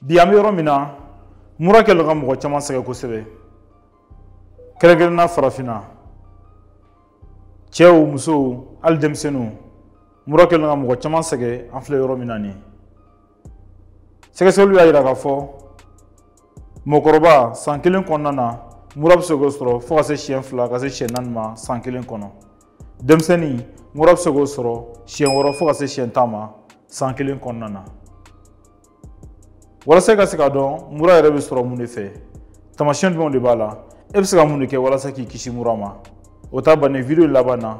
bi an bɛ yɔrɔ min na mura kɛlen ka mɔgɔ caman sɛgɛn kosɛbɛ kɛrɛnkɛrɛnna farafinna cɛw musow hali denmisɛnninw mura kɛlen ka mɔgɔ caman sɛgɛn an filɛ yɔrɔ min na nin sɛgɛsɛgɛliw y'a jira k'a fɔ mɔgɔkɔrɔba san kelen kɔnɔna na mura bɛ se k'o sɔrɔ fo ka se siɲɛ fila ka se siɲɛ naani ma san kelen kɔnɔ denmisɛnnin mura bɛ se k'o sɔrɔ siɲɛ wɔɔrɔ fo ka se siɲɛ tan ma san kelen kɔnɔna na walasa i ka se k'a dɔn mura yɛrɛ bɛ sɔrɔ mun de fɛ taamasiyɛn jumɛnw de b'a la e bɛ se ka mun de kɛ walasa k'i kisi mura ma o ta bannen video laban na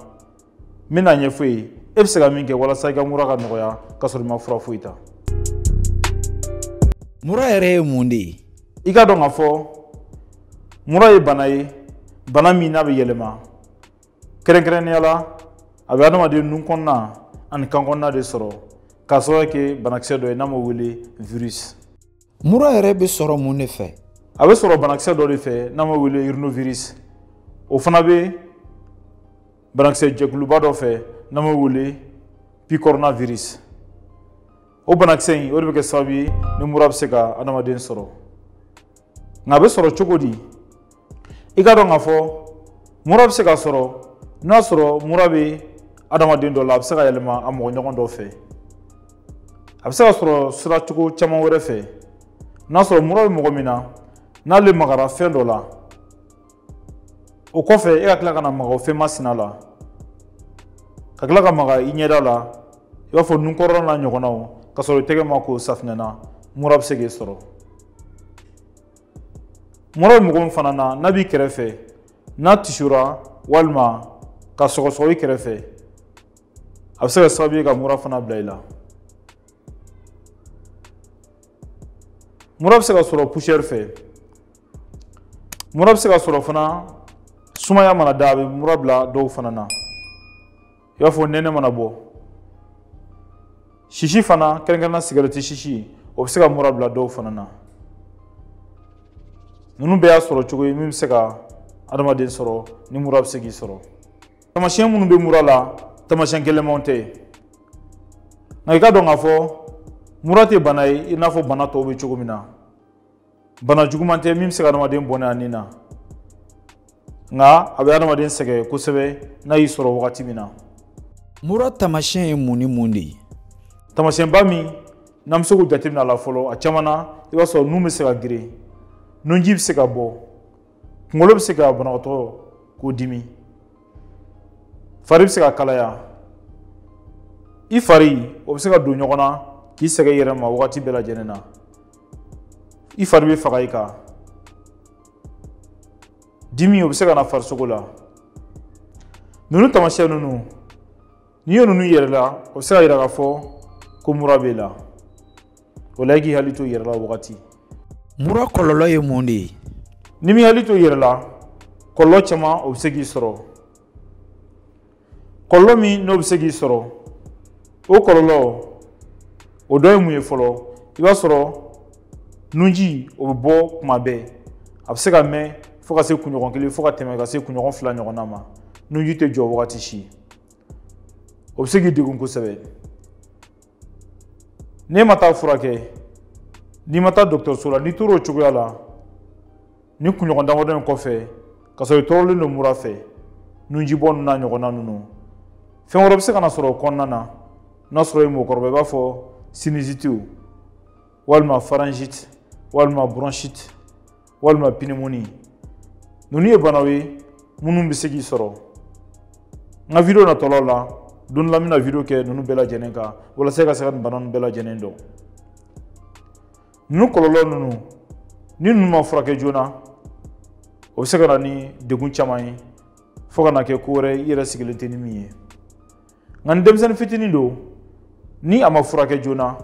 n bɛna ɲɛfɔ i ye e bɛ se ka min kɛ walasa i ka mura ka nɔgɔya k'a sɔrɔ i ma fura foyi ta mura yɛrɛ ye mun de ye i k'a dɔn k'a fɔ mura ye bana ye bana min n'a bɛ yɛlɛma kɛrɛnkɛrɛnnenya la a bɛ adamaden nun kɔnɔna ani kan kɔnɔna de sɔrɔ k'a sababu kɛ banakisɛ dɔ ye n'an b'a wele virus mura yɛrɛ bɛ sɔrɔ mun de fɛ a bɛ sɔrɔ banakisɛ dɔ de fɛ n'an b'a wele rhinovirus o fana bɛ banakisɛ jɛkuluba dɔ fɛ n'an b'a wele picornavirus o banakisɛ in o de bɛ kɛ sababu ye ni mura bɛ se ka adamaden sɔrɔ nka a bɛ sɔrɔ cogo di i k'a dɔn k'a fɔ mura bɛ se ka sɔrɔ n'a sɔrɔ mura bɛ adamaden dɔ la a bɛ se ka yɛlɛma a mɔgɔ ɲɔgɔn dɔ fɛ a bɛ se ka sɔrɔ sira cogo caman wɛrɛ fɛ n'a sɔrɔ mura bɛ mɔgɔ min na n'ale magara fɛn dɔ la o kɔfɛ e ka tila ka na maga o fɛn masina la ka tila ka maga i ɲɛda la i b'a fɔ nunkɔrɔla n'a ɲɔgɔnnaw ka sɔrɔ i tɛgɛ ma ko safinɛ na mura bɛ se k'e sɔrɔ mura bɛ mɔgɔ min fana na n'a b'i kɛrɛfɛ n'a tisora walima ka sɔgɔsɔgɔ i kɛrɛfɛ a bɛ se ka sababu ye ka mura fana bila i la mura bɛ se ka sɔrɔ poussière fɛ mura bɛ se ka sɔrɔ fana sumaya mana da a bɛ mura bila dɔw fana na i b'a fɔ nɛnɛ mana bɔ sisi fana kɛrɛnkɛrɛnna sigɛrɛti sisi o bɛ se ka mura bila dɔw fana na ninnu bɛɛ y'a sɔrɔ cogo ye min bɛ se ka adamaden sɔrɔ ni mura bɛ se k'i sɔrɔ taamasiyɛn minnu bɛ mura la taamasiyɛn gɛlɛnmanw tɛ nka i k'a dɔn k'a fɔ mura tɛ bana ye i n'a fɔ bana tɔw bɛ cogo min na bana juguman tɛ min bɛ se ka adamaden bɔnɛ a ni na nka a bɛ adamaden sɛgɛn kosɛbɛ n'a y'i sɔrɔ wagati min na mura tamasiyɛn ye mun ni mun de ye tamasiyɛnba min n'an bɛ se k'o jateminɛ a la fɔlɔ a caman na i b'a sɔrɔ nun bɛ se ka geren nunji bɛ se ka bɔ kunkolo bɛ se ka banabagatɔ k'o dimi fari bɛ se ka kalaya i fari o bɛ se ka don ɲɔgɔn na k'i sɛgɛn i yɛrɛ ma wagati bɛɛ lajɛlen na i fari bɛ faga i kan dimi o bɛ se ka na farisogo la ninnu taamasiyɛn ninnu n'i ye ninnu yɛrɛ la o bɛ se ka yira k'a fɔ ko mura b'e la o la i k'i hakili to i yɛrɛ la wagati mura kɔlɔlɔ ye mun de ye n'i m'i hakili to i yɛrɛ la kɔlɔlɔ caman o bɛ se k'i sɔrɔ kɔlɔlɔ min n'o bɛ se k'i sɔrɔ o kɔlɔlɔ o dɔ ye mun ye fɔlɔ i b'a sɔrɔ nunji o bɛ bɔ kuma bɛɛ a bɛ se ka mɛn fo ka se kunɲɔgɔn kelen fo ka tɛmɛ ka se kunɲɔgɔn fila ɲɔgɔnna ma nunji tɛ jɔ wagati si o bɛ se k'i degun kosɛbɛ n'e ma taa furakɛ n'i ma taa dɔgɔtɔrɔso la n'i tor'o cogoya la ni kunɲɔgɔn damadɔ in kɔfɛ ka sɔrɔ i tɔɔrɔlen don mura fɛ nunjibɔ ninnu n'a ɲɔgɔnna ninnu fɛn wɛrɛ bɛ se ka na sɔrɔ o kɔnɔna na n'a sɔrɔ i ye mɔgɔkɔrɔba i b'a fɔ sinusite walima pharyngite walima bronchite walima pneumonie ninnu ye banaw ye minnu bɛ se k'i sɔrɔ n ka video natɔlaw la don dɔ la n bɛna video kɛ ninnu bɛɛ lajɛlen kan walasa i ka se ka nin bana ninnu bɛɛ lajɛlen dɔn ninnu kɔlɔlɔ ninnu ni ninnu ma furakɛ joona o bɛ se ka na ni degun caman ye fo ka na kɛ ko wɛrɛ i yɛrɛ sigilen tɛ ni min ye nka ni denmisɛnnin fitinin don ni a ma furakɛ joona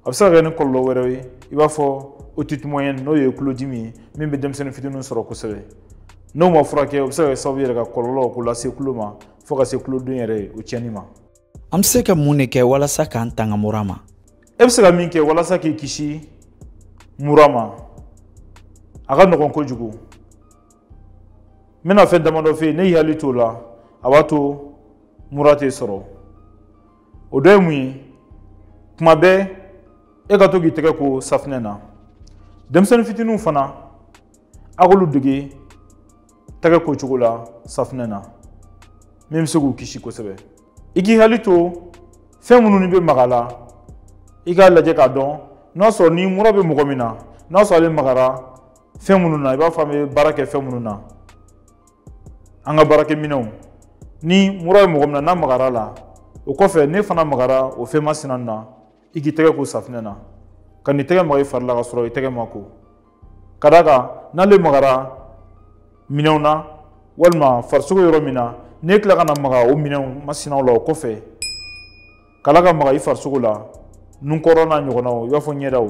a bɛ se ka kɛ ni kɔlɔlɔ wɛrɛw ye i b'a fɔ otite moyenne n'o ye tulodimi ye min bɛ denmisɛnnin fitinin sɔrɔ kosɛbɛ n'o ma furakɛ o bɛ se ka kɛ sababu yɛrɛ ka kɔlɔlɔ k'o lase tulo ma fo ka se tuloden yɛrɛ o tiɲɛni ma an bɛ se ka mun de kɛ walasa k'an tanga mura ma e bɛ se ka min kɛ walasa k'i kisi mura ma a ka nɔgɔn kojugu n bɛna fɛn damadɔ f'i ye n'i y'i hakili t'o la a b'a to mura t'i sɔrɔ o dɔ ye mun ye tuma bɛɛ e ka to k'i tɛgɛ ko safinɛ na denmisɛnnin fitininw fana a k'olu dege tɛgɛ ko cogo la safinɛ na min bɛ se k'u kisi kosɛbɛ i k'i hakili to fɛn minnu n'i bɛ maga la i k'a lajɛ k'a dɔn n'a sɔrɔ ni mura bɛ mɔgɔ min na n'a sɔrɔ ale magara fɛn minnu na i b'a fɔ an bɛ baara kɛ fɛn minnu na an ka baarakɛminɛnw ni mura ye mɔgɔ min na n'a magara la o kɔfɛ n'e fana magara o fɛn masina na i k'i tɛgɛ ko safinɛ na kan'i tɛgɛ maga i fari la ka sɔrɔ i tɛgɛ ma ko ka d'a kan n'ale magara minɛnw na walima farisogo yɔrɔ min na n'e tila ka na maga o minɛnw masinaw la o kɔfɛ kala ka maga i farisogo la nun kɔrɔ n'a ɲɔgɔnnaw i b'a fɔ ɲɛdaw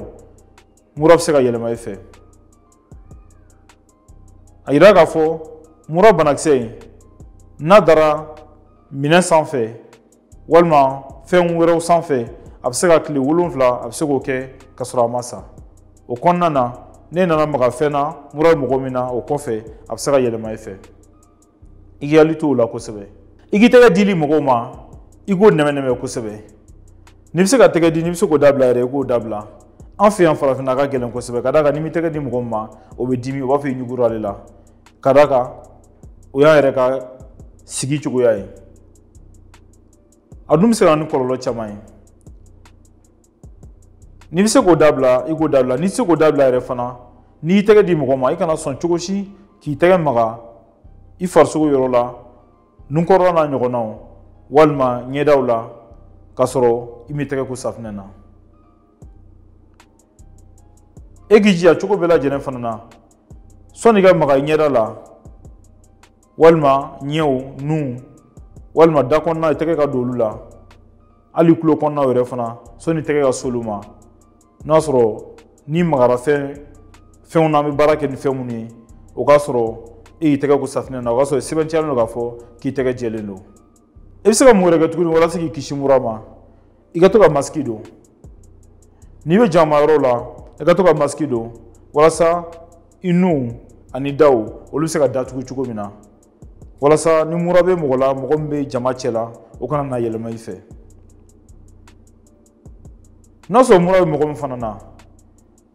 mura bɛ se ka yɛlɛma i fɛ a yira k'a fɔ mura banakisɛ in n'a dara minɛn sanfɛ walima fɛn wɛrɛw sanfɛ a bɛ se ka tile wolonfila a bɛ se k'o kɛ ka sɔrɔ a ma sa o kɔnɔna na n'e nana maga fɛn na mura bɛ mɔgɔ min na o kɔfɛ a bɛ se ka yɛlɛma i fɛ i k'i hakili to o la kosɛbɛ i k'i tɛgɛ dili mɔgɔw ma i k'o nɛmɛnɛmɛ kosɛbɛ n'i bɛ se ka tɛgɛ di n'i bɛ se k'o dabila yɛrɛ i k'o dabila an fɛ yan farafinna a ka gɛlɛn kosɛbɛ ka d'a kan n'i m'i tɛgɛ di mɔgɔ min ma o bɛ dimi o b'a fɔ i ɲugura ale la ka d'a kan o y'an yɛrɛ ka sigi cogoya ye a dun bɛ se ka na ni kɔlɔlɔ caman ye n'i bɛ se k'o dabila i k'o dabila n'i tɛ se k'o dabila yɛrɛ fana n'i y'i tɛgɛ di mɔgɔ ma i kana sɔn cogo si k'i tɛgɛ maga i farisogo yɔrɔ la nunkɔrɔla n'a ɲɔgɔnnaw walima ɲɛdaw la k'a sɔrɔ i m'i tɛgɛ ko safinɛ na e k'i jija cogo bɛɛ lajɛlen fana na sɔnni i ka maga i ɲɛda la walima ɲɛw nun walima da kɔnɔna i tɛgɛ ka don olu la hali tulo kɔnɔnaw yɛrɛ fana sɔnni i tɛgɛ ka s'olu ma n'a sɔrɔ n'i magara fɛn fɛnw na an bɛ baara kɛ ni fɛn minnu ye o k'a sɔrɔ e y'i tɛgɛ ko safinɛ na o k'a sɔrɔ sɛbɛntiyalen don k'a fɔ k'i tɛgɛ jɛlen don i bɛ se ka mun wɛrɛ kɛ tuguni walasa k'i kisi mura ma i ka to ka masiki don n'i bɛ jama yɔrɔ la i ka to ka masiki don walasa i nun ani daw olu bɛ se ka datugu cogo min na walasa ni mura bɛ mɔgɔ la mɔgɔ min bɛ jama cɛ la o kana na yɛlɛma i fɛ n'a sɔrɔ mura bɛ mɔgɔ min fana na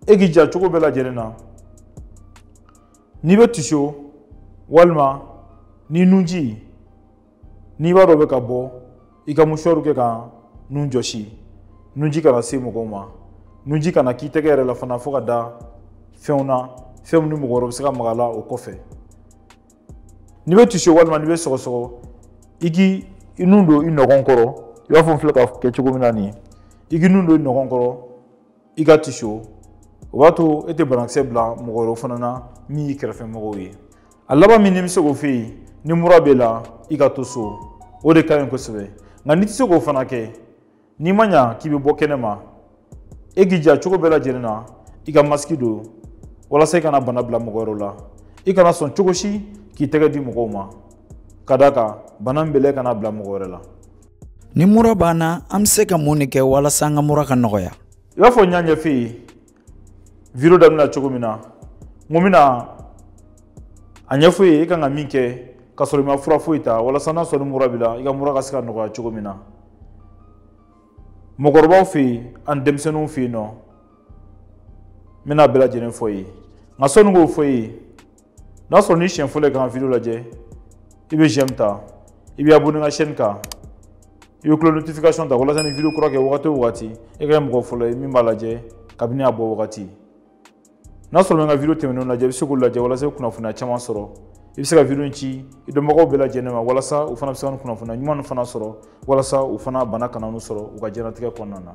e k'i ja cogo bɛɛ lajɛlen na n'i bɛ tiso walima n'i nunji n'i b'a dɔn bɛ ka bɔ i ka musuwaru kɛ ka nun jɔsi nunji kana se mɔgɔw ma nunji kana k'i tɛgɛ yɛrɛ la fana fo ka da fɛnw na fɛn min ni mɔgɔ wɛrɛ bɛ se ka maga la o kɔfɛ n'i bɛ tiso walima n'i bɛ sɔgɔsɔgɔ i k'i nun don i nɔgɔn kɔrɔ i b'a fɔ n filɛ ka kɛ cogo min na nin i k'i nun don i nɔgɔn kɔrɔ i ka tiso o b'a to e tɛ banakisɛ bila mɔgɔ wɛrɛw fana na min y'i kɛrɛfɛ mɔgɔw ye a laban min ni n bɛ se k'o fɔ i ye ni mura b'e la i ka to so o de ka ɲi kosɛbɛ nka n'i tɛ se k'o fana kɛ n'i ma ɲa k'i bɛ bɔ kɛnɛ ma e k'i ja cogo bɛɛ lajɛlen na i ka masiki don walasa i kana bana bila mɔgɔ wɛrɛw la i kana sɔn cogo si k'i tɛgɛ di mɔgɔw ma ka d'a kan bana min b'e la i kana bila mɔgɔ wɛrɛ la ni mura b'an na an bɛ se ka mun de kɛ walasa an ka mura ka nɔgɔya i b'a fɔ n y'a ɲɛfɔ i ye video daminɛ cogo min na n ko n bɛna a ɲɛfɔ i ye i kan ka min kɛ ka sɔrɔ i ma fura foyi ta walasa n'a sɔrɔ ni mura b'i la i ka mura ka se ka nɔgɔya cogo min na mɔgɔkɔrɔbaw fɛ yen ani denmisɛnninw fɛ yen nɔ n bɛna bɛɛ lajɛlen fɔ i ye nka sɔnni k'o fɔ i ye n'a sɔrɔ n'i siɲɛ fɔlɔ ye ka n ka video lajɛ i bɛ j'aime ta i bɛ abonné n ka chaîne kan i bɛ cloche notification ta walasa ni video kura kɛ wagati o wagati e ka kɛ mɔgɔ fɔlɔ ye min b'a lajɛ kabini a bɔ wagati n'a sɔrɔ bɛ n ka video tɛmɛnenw lajɛ i bɛ se k'u lajɛ walasa i kunnafoniya caman sɔrɔ i bɛ se ka video in ci i dɔnbagaw bɛɛ lajɛlen ma walasa u fana bɛ se ka nin kunnafoniya ɲuman fana sɔrɔ walasa u fana bana kana n'u sɔrɔ u ka diɲɛnatigɛ kɔnɔna na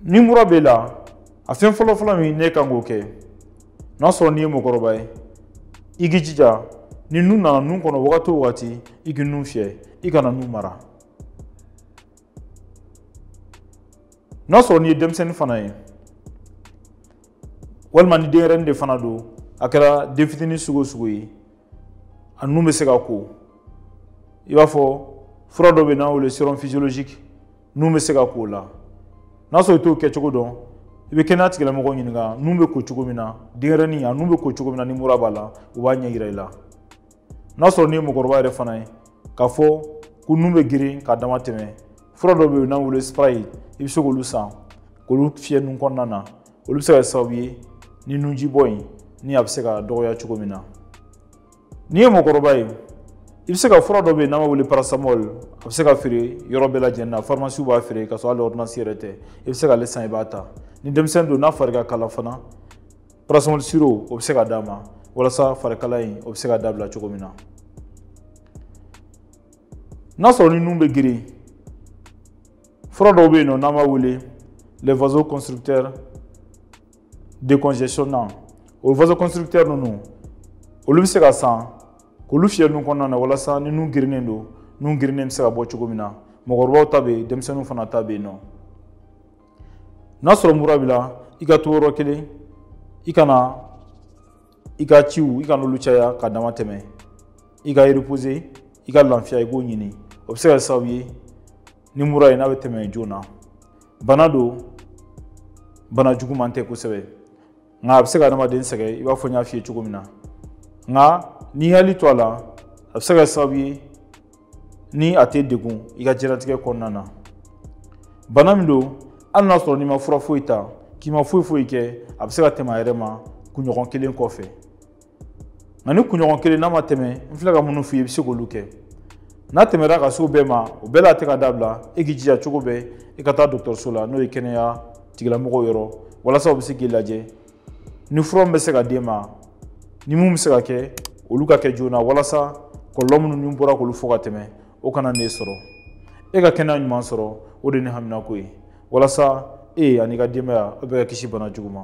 ni mura b'e la a fɛn fɔlɔ fɔlɔ min n'e kan k'o kɛ n'a sɔrɔ n'i ye mɔgɔkɔrɔba ye i k'i jija ni nun nana nun kɔnɔ wagati o wagati i k'i nun fiyɛ i kana nun mara n'a sɔrɔ n'i ye denmisɛnnin fana ye walima ni denyɛrɛnin de fana don a kɛra den fitinin sugu o sugu ye a nun bɛ se ka ko i b'a fɔ fura dɔ bɛ yen n'an wele sérum physiologique nun bɛ se ka ko o la n'a sɔrɔ i t'o kɛcogo dɔn i bɛ kɛnɛya tigilamɔgɔw ɲininka nun bɛ ko cogo min na denyɛrɛnin a nun bɛ ko cogo min na ni mura b'a la u b'a ɲɛ yira i la n'a sɔrɔ n'i ye mɔgɔkɔrɔba yɛrɛ fana ye k'a fɔ ko nun bɛ girin k'a dama tɛmɛ fura dɔ bɛ yen n'an wele spray i bɛ se k'olu san k'olu fiyɛ nun kɔnɔna na olu bɛ se ka kɛ sababu ye ni nunjibɔ in ni a bɛ se ka dɔgɔya cogo min na n'i ye mɔgɔkɔrɔba ye i bɛ se ka fura dɔ bɛ yen n'an b'a wele paracétamol a bɛ se ka feere yɔrɔ bɛɛ lajɛlen na farimasiw b'a feere ka sɔrɔ hali ordonnance yɛrɛ tɛ i bɛ se k'ale san i b'a ta ni denmisɛnnin don n'a fari ka kala fana paracétamol sirop o bɛ se ka d'a ma walasa farikala in o bɛ se ka dabila cogo min na n'a sɔrɔ ni nun bɛ girin fura dɔw bɛ yen nɔ n'an b'a wele les vasoconstricteurs décongestionnants o vasoconstricteurs ninnu olu bɛ se ka san k'olu fiyɛ nun kɔnɔna na walasa ni nun girinnen don nun girinnen bɛ se ka bɔ cogo min na mɔgɔkɔrɔbaw ta bɛ yen denmisɛnninw fana ta bɛ yen nɔ n'a sɔrɔ mura b'i la i ka to yɔrɔ kelen i kana i ka ciw i kan'olu caya ka dama tɛmɛ i ka repose i ka lafiya i k'o ɲini o bɛ se ka sababu ye ni mura in n'a bɛ tɛmɛ joona bana don bana juguman tɛ kosɛbɛ nka a bɛ se ka adamaden sɛgɛn i b'a fɔ n y'a f'i ye cogo min na nka n'i hakili to a la a bɛ se ka sababu ye ni a t'e degun i ka jɛnatigɛ kɔnɔna na bana min don hali n'a sɔrɔ n'i ma fura foyi ta k'i ma foyi foyi kɛ a bɛ se ka tɛmɛ a yɛrɛ ma kunɲɔgɔn kelen kɔfɛ nka ni kunɲɔgɔn kelen n'a ma tɛmɛ n filɛ ka minnu f'i ye i bɛ se k'olu kɛ n'a tɛmɛra ka s'o bɛɛ ma o bɛɛ la a tɛ ka dabila e k'i jija cogo bɛɛ i ka taa dɔgɔtɔrɔso la n'o ye kɛnɛya tigilamɔgɔw yɔrɔ walasa u bɛ se k'i lajɛ ni fura min bɛ se ka d'e ma ni mun bɛ se ka kɛ olu ka kɛ joona walasa kɔlɔlɔ minnu ne bɔra k'olu fɔ ka tɛmɛ o kana n'e sɔrɔ e ka kɛnɛya ɲuman sɔrɔ o de ye ne haminako ye walasa e ani ka denbaya aw bɛɛ ka kisi bana jugu ma